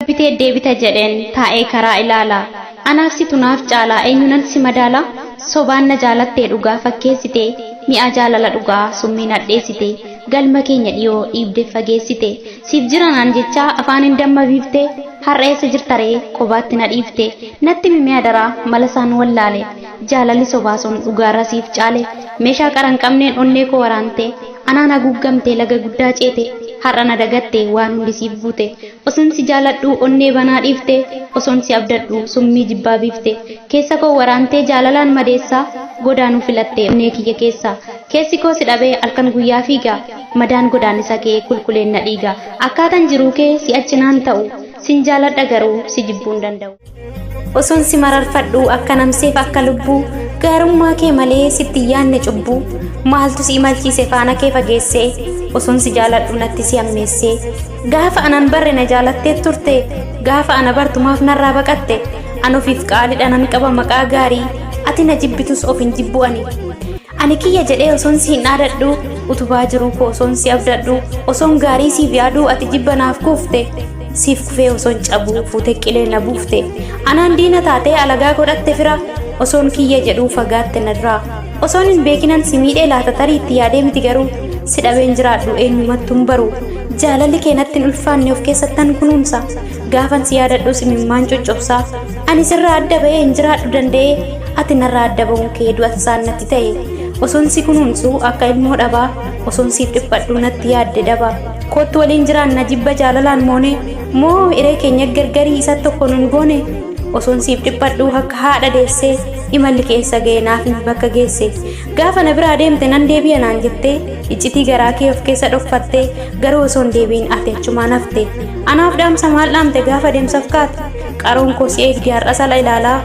bitee deebita jedheen taa'ee karaa ilaala anaaf situ naaf caalaa eenyunan si madaala sobaan na jaalattee dhugaa fakkeessite mi'aa jaalala dhugaa summiin hadheessite galma keenya dhiyoo dhiibde fageessite Siif jira naan jechaa afaaniin damma biifte Har'a eessa jirta ree qobaatti na dhiifte Natti himi mee adaraa mala saan wallaale Jaalalli sobaa sun dhugaarra siif caale Meeshaa qara hin qabneen onnee koo waraante Anaan haguuggamte laga guddaa ceete Har'a na dagatte waan hundi siif guute Osoon si jaaladhuu onnee banaa dhiifte Osoon si abdadhuu summii jibbaa biifte Keessa koo waraantee jaalalaan madeessaa Godaanuu filatte onnee kiyya keessaa Keessi koo si dhabee halkan guyyaa fiiga Madaan godaannisa kee qulquleenna dhiiga. Akkaatan jiruu kee si accinaan ta'u. Sin jaaladha garuu si jibbuun danda'u. Osoon si mararfadhu akka namseef akka lubbuu Gaarummaa kee malee sitti hin yaadne cubbuu Maaltu si imalchiise faana kee fageesse Osoon si jaaladhu natti si hammeesse Gaafa anan barre na jaalatteet turte Gaafa ana bartu maaf narraa baqatte An ofiif qaalidha nan qaba maqaa gaarii Ati na jibbitus of hin jibbu ani Ani kiyya jedhee osoon siin dhaadadhu utubaa jiruu koo osoon si abdadhu osoon gaarii siif yaaduu ati jibba naaf kuufte siif kufee osoon cabuu fuute qilee na buufte anaan diina taatee alagaa godhatte fira osoon kiyya jedhuu fagaatte na duraa osoon hin beekinan si miidhee laata tarii itti yaadee miti garuu si dhabeen jiraadhu eenyumattuun baru jaalalli kee natti hin ulfaanne of keessattan kunuunsa Gaafan si yaadadhus imimmaan coccobsaa ani sirraa adda ba'ee hin jiraadhu danda'ee ati narraa adda ba'uun kee du'a tasaan natti ta'e osoon si kunuunsu akka ilmoo dhabaa osoon siif dhiphadhu natti yaadde daba koottu waliin jiraanna jibba jaalalaan moone moo iree keenya gargarii isa tokko nun goone osoon siif dhiphadhu akka haadha deessee imalli keessa ga'e naaf himi bakka geesse gaafa na biraa deemte nan deebi'a naan jettee iccitii garaa kee of keessa dhokfattee garuu osoo hin deebiin ati achumaan hafte anaaf dhaamsa maal dhaamte gaafa deemsaf kaate qaroon koo si eegdi har'as ala ilaalaa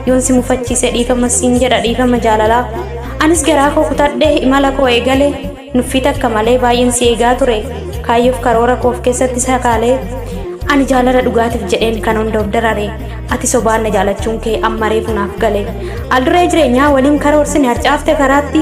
yoon si mufachiise dhiifama siin jedha dhiifama jaalalaa anis garaa koo kutadhe imala koo eegale nuffii takka malee baay'een si eegaa ture kaayyoof karoora koof keessatti sakaalee ani jaalala dhugaatiif jedheen kan hunda of darare ati sobaan na jaalachuun kee amma reefu naaf gale alduree jireenyaa waliin karoorsine harcaafte karaatti